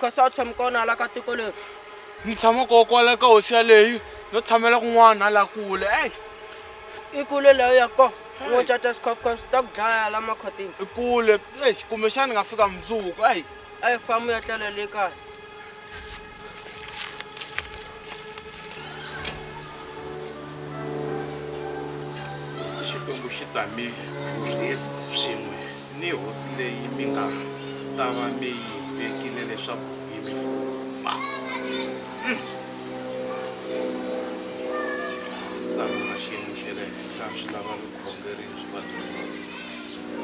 ka sa tshame ka ona la ka tiko leri ni tshama ko kwala ka hosi yaleyi no tshamela kun'wana la kule ey i kule leyo ya ko wo caca swikhofukhofu swi ta ku dlaya la makhotini i kule ey kumbexani ni nga fika mundzuku ey ey famu ya tlela le kaya se xikwembu xi ta mi rhurhisa swin'we ni hosi leyi mi nga ta va mi yi vekile leswaku yi mi fuma Hmm. tsalwa na xiyimo xa le henhla swi lava vukhongeri byi va byi ri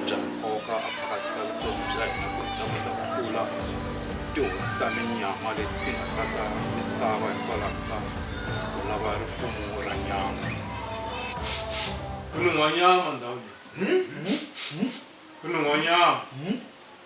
bya nkoka a phakathi ka vutomi bya hina ku ta kota ku hlula tihosi ta minyama leti ti nga ta ta misava hikwalaho ka ku lava rifumo ra nyama ku nun'hwanyama ndhawu leyi ku nun'hwanyama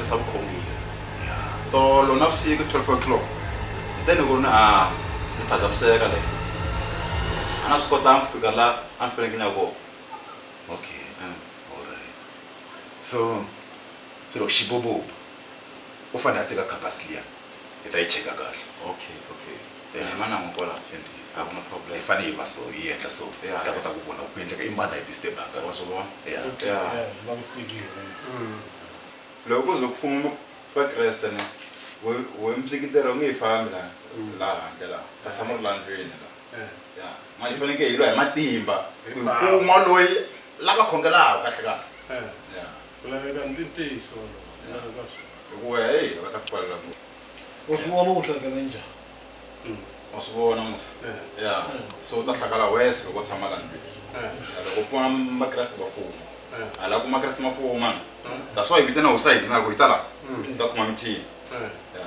sasa bukhongi tolo nabusiku 12 o'clock then ku ri na a ni phazamiseka le a na swi kotanga ku fika la a ni faneleke ni ya kona okay alright so swilo xibobobo u fanele a teka khampasi liya hi ta yi cheka kahle okay okay eh. hi manango kwala a ku na problem hi fanele hi va so hi endla so hi ta kota ku vona ku endleka i mani a yi disturbaka wa swi vona ya mm. loko ku ze ku fuma vakreste ne we mtlikitero u nge yi fambi la mm. laha handle laha ta tshama ri la ndlwini la eh. ya ma hi fanekele hi lwa hi matimba ku kuma loyi lava khongelaka kahle kahle eh. ya Ku laveka ntintiso lowu ku laveka swo. Hikuva hey va ta ku pfalela ku. Wa swi vona ku hlakala njhani. Mm. Wa swi vona mos. Eh. Ya. Eh. So u ta hlakala worse loko u tshama la ndlwini. Eh. Ya loko u pfuna Makreste va fuma. Eh. A la ku Makreste ma fuma na. That's why hi vitana hosi ya hina ku hi ta la. Mm. Hi ta khoma mithini. Eh. Ya.